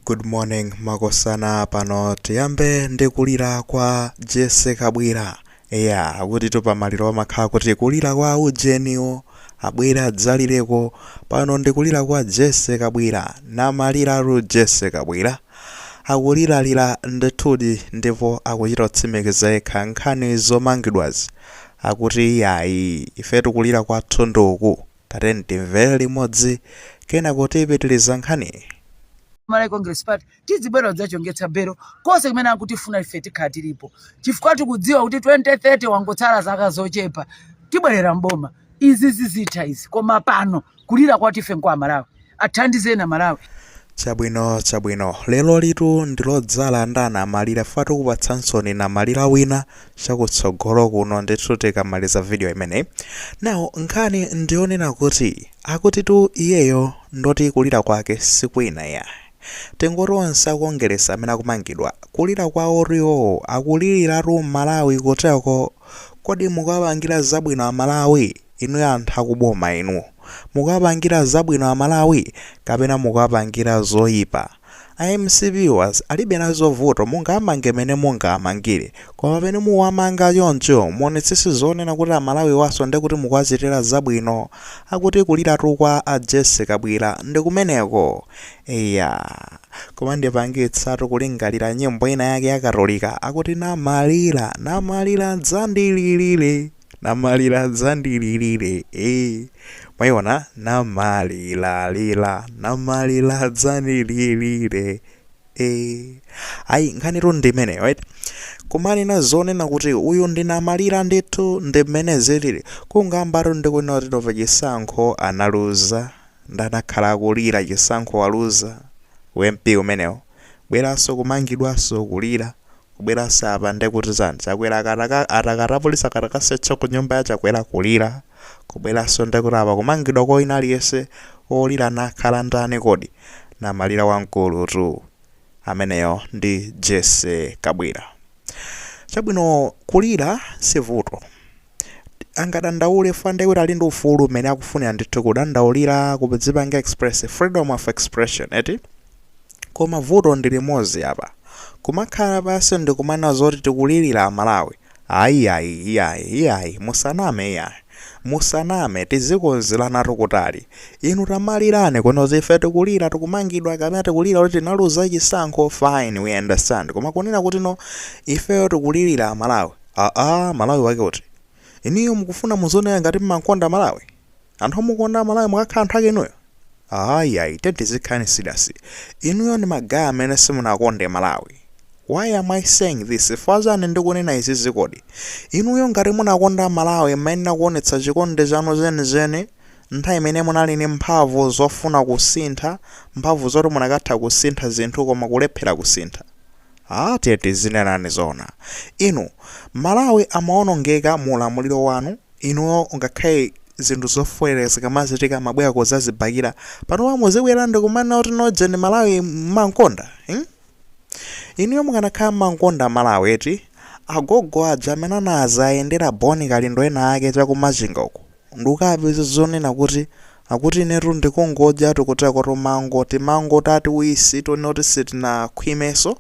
Good morning makosana pano tiyambe ndi kulira kwa Jessie Kabwila eya akuti tu pamaliro amakhala kuti kulira kwa ujeniwo abwere adzalireko pano ndi kulira kwa Jessie Kabwila namaliratu Jessie Kabwila akuliralira ndithudi ndipo akuchita kutsimikiza yekha nkhani zomangidwazi akuti iyayi ife tikulira kwathu nduku Tatiyeni timvere limodzi kenako tipitiriza nkhaniyi. Malawi Congress Party tizibwera kudzachongetsa belo konse kumene akutifuna ife tikhala tilipo chifukwa tikudziwa kuti 2030 wangotsala zaka zochepa tibwerera m'boma izi zizitha izi koma pano kulira kwathu ife nkwa Amalawi. athandizeni Amalawi. Chabwino chabwino. Lerolitu ndilodzala ndi anamalira chifukwa tikupatsansoni namalira wina chakutsogolo kuno ndithu tikamaliza video imeneyi. Now nkhani ndiyonena kuti akutitu iyeyo ndoti kulira kwake sikwina ayi. Tingoti onse akongeresi amene akumangidwa kulira kwawotu iwowo akuliriratu Mmalawi kuteko. Kodi mukuwapangira zabwino a Malawi? Inu anthu akuboma inu. Mukuwapangira zabwino amalawi kapena mukuwapangira zoipa? A mcp viewers alibe nazo vuto mungawamange mene mungawamangire koma pamene muwamanga choncho muonetsetse zonena kuti amalawiwaso ndekuti mukuwachitira zabwino. Akuti kuliratu kwa a Jessie Kabwila ndikumeneko. Eya. Koma ndipangitsatu kulingalira nyimbo ina yake ya katolika akuti namalira namalira dzandililire. Namalira dzandililire ee mwaiona namalilalila namalira dzandililire ee ayi nkhanitu ndi imeneyo right kumanena zonena kuti uyu ndinamalira ndithu ndi mmene zilili kukambatu ndi kunena kuti nova chisankho analuza ndi anakhala akulira chisankho waluza ump umenewo bweranso kumangidwanso kulira kubweranso apa ndekuti zani Chakwera akataka ataka apolisi akatakasetcha ku nyumba ya Chakwera kulira kubweranso ndekuti apa kumangidwa kwa wina aliyense olira amakhala ndani kodi namalira wamkulutu ameneyo ndi Jessie Kabwila chabwino kulira sivuto angadandaule fwa ndiye kuti ali ndi ufulu umene akufunira ndithu kudandaulira kudzipanga express freedom of expression eti koma vuto ndi limodzi apa kumakhala pansi ndikumanena zoti tikulilira amalawi ayi ayi iyayi iyayi musaname iyayi musaname tizikonzeranatu kutali inu tamalirani kuno ife tikulira tikumangidwa kapena tikulira kuti tinaluza chisankho fine we understand koma kunena kuti no ifeyo tikulilira amalawi Aaa malawi wake uti? Inuyo mukufuna muzioneka ngati mmankonda malawi? Anthu omukonda malawi mukakhala anthu ake inuyo? Aaa yayi tiyeni tizikhalani serious. Inuyo ndi ma guy amene simunakonde malawi. Why am I saying this? Chifukwa chani ndikunena zizi kodi? Inuyo ngati munakonda malawi mmayenera kuonetsa chikondi chanu cheni cheni nthawi imene munali ndi mphamvu zofuna kusintha, mphamvu zoti munakatha kusintha zinthu koma kulephera kusintha. Aaa tiyeni tizinenani zoona inu Malawi amaonongeka mu ulamuliro wanu inuyo ngakhale zinthu zofoilira zikamachitika mmabwera kudzazibakira panopa muzibwera ndikumanena kuti no ujeni Malawi mmankonda mm inuyo mukanakhala mmankonda Malawi eti agogo aja amene anazayendera Bon Kalindo ena ake chaku Machinga uko ndukapeze zonena kuti akuti inetu ndikungodyatu tikuteko timango timango tatiwisi tonoti sitinakhwimenso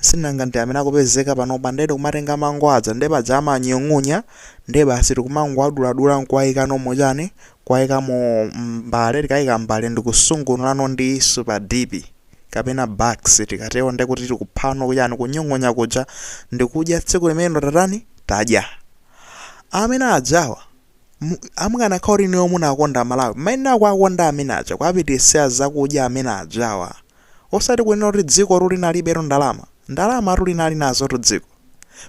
sinanga ndi amene akupezeka panopa nde tikumatenga mango aja nde paja amanyung'unya nde basi tikumangowaduladula nkuwaikano mu chani kuwaika mu mbale tikaika mbale ndikusungunulano ndi super dipi kapena bax tikatero nde kuti tikuphako chani kunyung'unya kuja ndikudya tsiku limenelo tatani tadya Amene ajawa mu- mukanakhala kuti inuyo munakonda malawi mmayenera kuwakonda amene aja kuwapititsira zakudya amene ajawa osati kunena kuti dziko tu linalibetu ndalama ndalama tu linali nazo tu dziko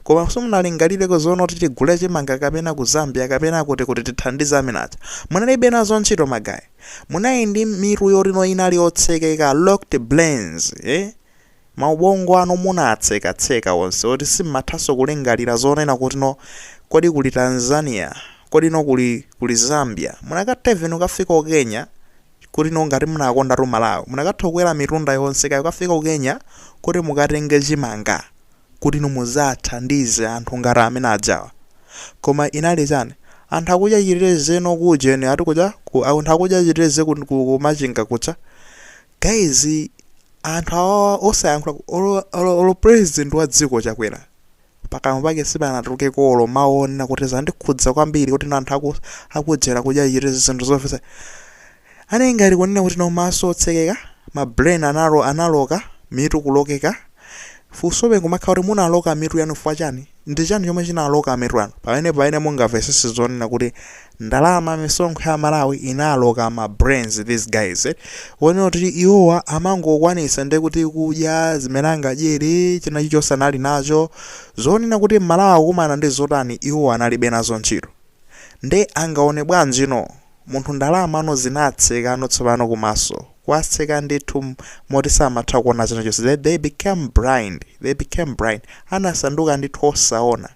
koma simunalingalireko zoona kuti tigule chimanga kapena ku zambia kapena kuti kuti tithandize amene aja munalibe nazo ntchito magayi munali ndi mitu yoti no inali yotsekeka locked brains eh? Maubongo anu munaatseka tseka onse oti simmathanso kulingalira zonena kuti no kodi kuli Tanzania kodi no kuli Zambia munakatha even kukafika ku Kenya kuti no ngati munakondatu Malawi munakatha kukwera mitunda yonse kaya kukafika ku Kenya kuti mukatenge chimanga kuti no mudzathandize anthu ngati amene ajawa koma inali chani anthu akudya chiteze no ku ujeni ati kuja ku anthu akudya chiteze ku ku machinga kuja Guys anthu awawa osayankhula olo olo olo president wa dziko chakwera pakamwa pake sipanatulukeko olo mawu onena kuti zandikhudza kwambiri kuti no anthu aku akujera kudya chiteze zinthu zovetsa anali ngati kunena kuti no maso otsekeka ma brain anawo analoka mitu kulokeka funsobe nkumakhala kuti munaloka mitu yanu chifukwa chani Ndi chani chomwe chinaloka mitu yanu pamene pamene mungamvetsetse zonena kuti ndalama misonkho ya aMalawi inaloka ma brains these guys onena kuti iwowa amangokwanisa nde kuti kudya zimene angadyere china chilichonse anali nacho zonena kuti m'Malawi akukumana ndi zotani iwowa analibe nazo ntchito nde angaone bwanjino Munthu ndalamano zinatsekano tsopano kumaso kwatseka ndithu moti samatha kuona china chonse they they became blind they became blind anasanduka ndithu osaona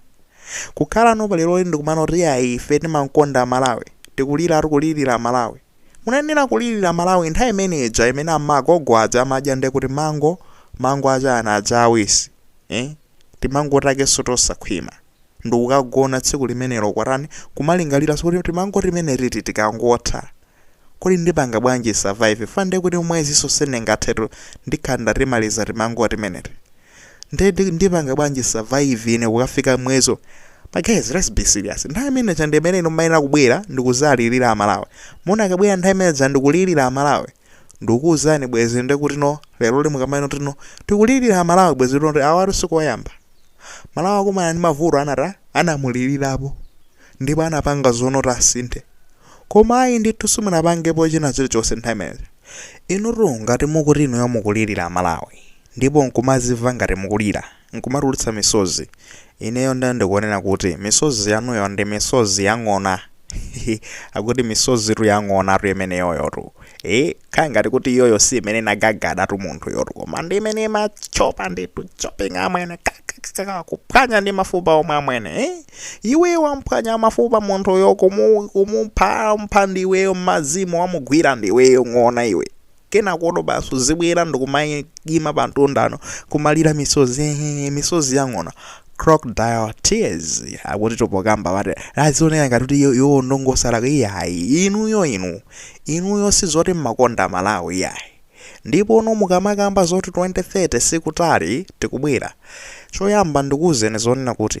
kukhalano pa leroli ndikumanena kuti ayi ife timankonda Malawi tikulilatu kulilila Malawi munayenera kulilila Malawi nthawi imene ija imene amagogo aja amadya nde kuti mango mango achani aja awisi eh timango takeso tosakhwima ndikukagona tsiku limenelo kwatani kumalingalira zoti timango timenetiti tikangotha kodi ndipanga bwanji survive fa ndiye kuti mwezinso sindingathetu ndikhala ndatimaliza timango timeneti ndiye ndi- ndipanga bwanji survive ine kukafika mwezo ma guys let's be serious nthawi imene chande imene inu mayenera kubwera ndikuzalilira amalawi munakabwera nthawi imene dzandikulilira amalawi Ndikukuuzani bwezi nde kutino leroli mukamanena kutino tikulilira amalawi bwezi kutino kuti awatu sikoyamba. Malawi akumana ndi mavuto anzathu anamulilirapo ndipo anapanga zonoti asinthe. Koma ayi ndithu simunapangepo china chilichonse nthawi imeneja. Inutu ngati mukuti inuyo mukulilira amalawi ndipo nkumazimva ngati mukulira. nkumatulutsa misozi. Ineyo nde ndikuona kuti misozi yanuyo ndi misozi ya ng'ona hehe akuti misozitu ya ng'onatu imeneyoyotu ee kaya ngati kuti iyoyo si imene inagagadatu munthuyotu koma ndi imene imatchopa ndithu chopping amwene kakakakaka kuphwanya ndi mafupa omwe amwene ee iweyo wamphwanya mafupa munthuyo kumu kumuphampha ndiweyo m'madzimu wamugwira ndiweyo ng'ona iwe kenakoto basi uzibwera ndikumayima pa mtunda ndi kumalira misozi ehe, misozi yang'ona crocodile tears akuti tapokamba mwati azioneka ngati kuti iyo- iwo ndi osalakwa iyayi inuyo inu inuyo sizoti mmakonda malawi iyayi ndipo uno mukamakamba zoti 2030 sikutali tikubwera choyamba ndikuwuzeni zonena kuti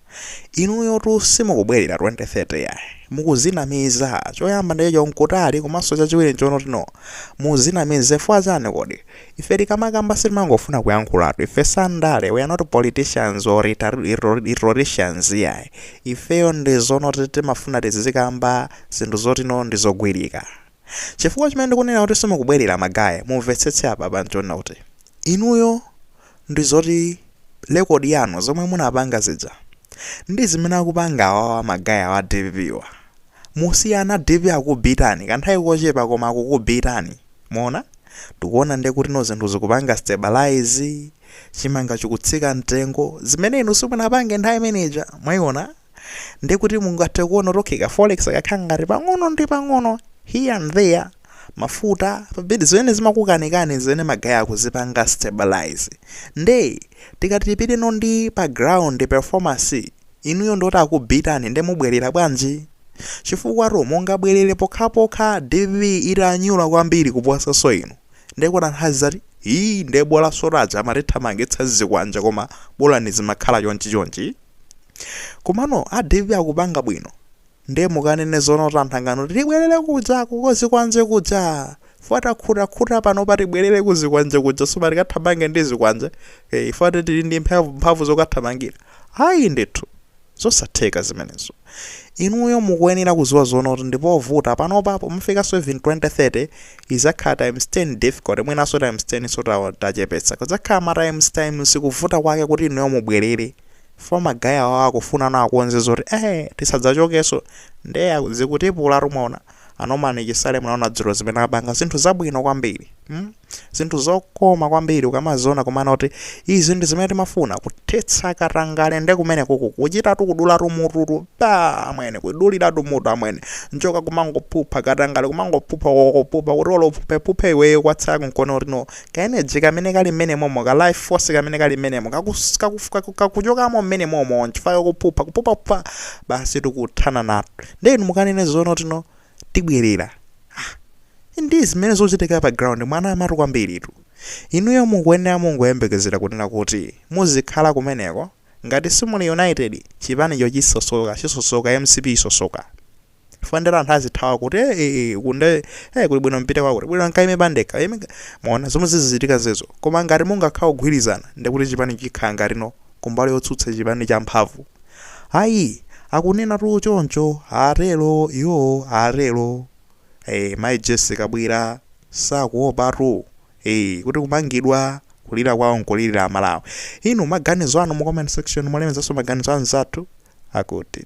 Inuyotu simukubwelera 2030 iyayi mukuzinamiza choyamba ndi chonoti nkutali komanso chachiwiri nchonoti no muzinamiza chifukwa chani kodi ife tikamakamba sitimangofuna kuyankhulatu ife si andale we are not politicians or rhetoricians iyayi ifeyo ndizonoti timafuna tizizikamba zinthu zoti no ndizogwirika chifukwa chimene ndikunenera kuti simukubwelera ma guy mumvetsetse apapa nchonena kuti inuyo ndizoti record yanu zomwe munapanga zija ndizimene akupanga awawa ma guy awa dpp wa musiyana dpp akubitani kanthawi kochepa koma akukubitani mmene tikuona nde kuti no zinthu zikupanga stabilize chimanga chikutsika mtengo zimene inu simunapange nthawi imeneja mwaiona ndekuti mungathe kuona kuti okay ka forex kakhala ngati pang'ono ndi pang'ono here and there mafuta pa bed zimene zimakukanikani zimene ma guy akuzipanga stabilize nde tikati tipiteno ndi pa ground performance inuyo ndioti akubitani nde mubwerera bwanji chifukwatu mungabwerere pokhapokha dpp itanyula kwambiri kuposanso inu nde kutanthauza zoti ii nde bola sotaja amatithamangitsa zikwanje koma bolani zimakhala chonchi chonchi komano a dpp akupanga bwino Nde mukanene zoona kuti anthu anganene kuti tibwelele kuja ku zikwanje kuja chifukwa takhuta khuta panopa tibwelele ku zikwanje kuja soba tikathamange ndi zikwanje ee chifukwa choti tili ndi mphamvu mphamvu zokathamangila ayi ndithu zosatheka zimenezo inuyo mukuenera kuziwa zoona kuti ndipovuta panopa pomafikanso even 2030 izakhala times 10 difficult mwinanso times 10 so tachepetsa kudzakhala ma times times kuvuta kwake kuti inuyo mubwelele Chifukwa ma guy awa akufunano akonze zoti eh tisadzachokenso nde zikutipulatu mwaona. A Norman Chisale munaona dzulo zimene apanga zinthu zabwino kwambiri. Hmm? Zinthu zokoma kwambiri ukamaziona kumanena kuti izi ndi zimene timafuna kuthetsa katangale nde kumene kuku kuchitatu kudulatu mututu pa amwene kuduliratu mutu amwene njoka kumangophupha katangale kumangophupha kokophupha kuti olo uphuphephuphe iweyo kwatsala kunkona kuti no Ka energy kamene kali mmenemomo, ka life force kamene kali mmenemo, kakus, kakuf, kaku, kakuchokamo mmenemomo, nchifukwa ikuphupha, kuphuphaphupa, basi tikuthana nato. Nde inu mukanene zoona kuti no, tibwerera. Ah, ndi zimene zikuchitika pa ground, mwanamatu kwambiritu. Inuyo mukuyenera mungoyembekezera kunena kuti muzikhala kumeneko, ngati simuli united, chipanicho chisosoka, chisosoka, mcp isosoka. chifukwa nde anthu azithawa kuti eh, eh, eh, ku nde eh, kuli bwino mpite kwakuti bwino nkaime pandekha Ime- mwaona zomwe zizichitika zezo koma ngati mungakhala ogwirizana ndekuti chipani chikhala ngatino kumbali yotsutsa chipani cha mphamvu ayi akunenatu choncho atero iwo atero eh, mayi jessie kabwila sakuopatu eh, kuti kumangidwa kulira kwawo nkulirira amalawi inu maganizo anu mu comment section mulemezanso maganizo anzathu akuti